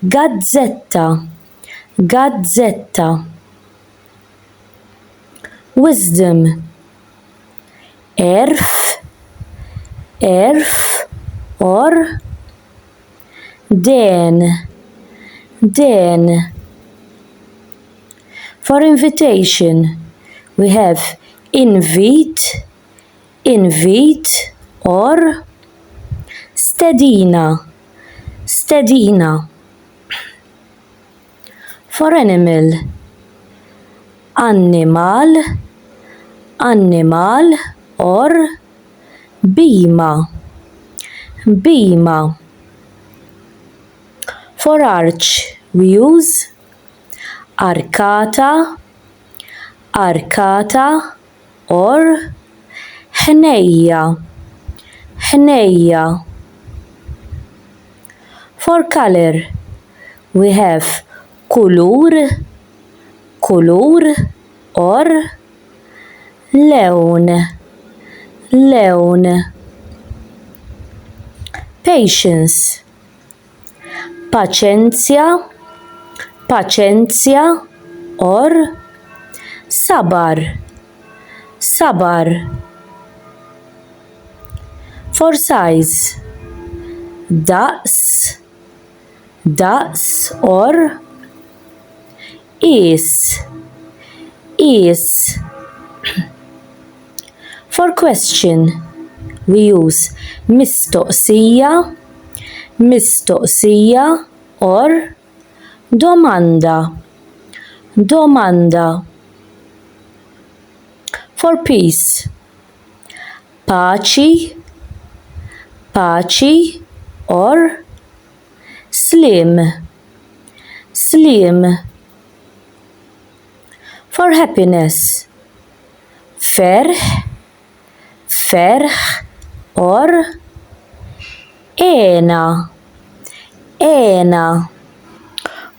gazzetta, gazzetta wisdom, għerf, għerf or den, den For invitation, we have invit, invit or stedina stedina for animal annimal annimal or bhima bhima for arch we use arkata arkata or ħnejja ħnejja for color we have kulur kulur or lewn lewn patience paċenzja, paċenzja, or sabar, sabar. For size, daqs, daqs, or is, is. For question, we use mistoqsija, mistoqsija or domanda, domanda. For peace, paċi, paċi or sliem, sliem. For happiness, ferħ, ferħ, or, ena, ena.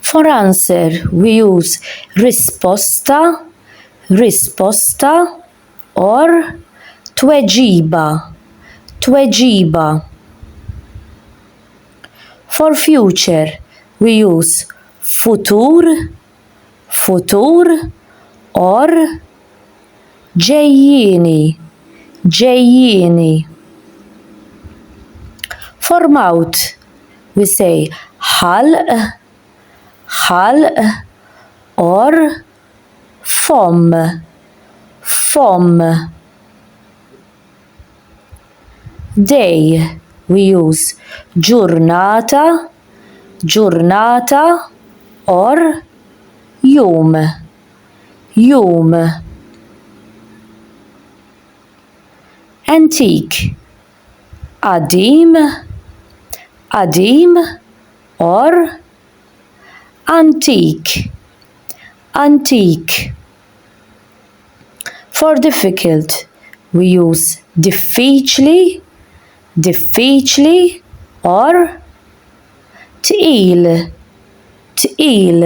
For answer, we use risposta, risposta, or tweġiba, tweġiba. For future, we use futur, futur or ġejjieni ġejjieni. For mouth we say ħalq ħalq or fomm fomm. day, we use ġurnata, ġurnata or jum, jum. Antique, qadim, qadim or antik, antik. For difficult, we use diffiċli, diffiċli, or tqil, tqil.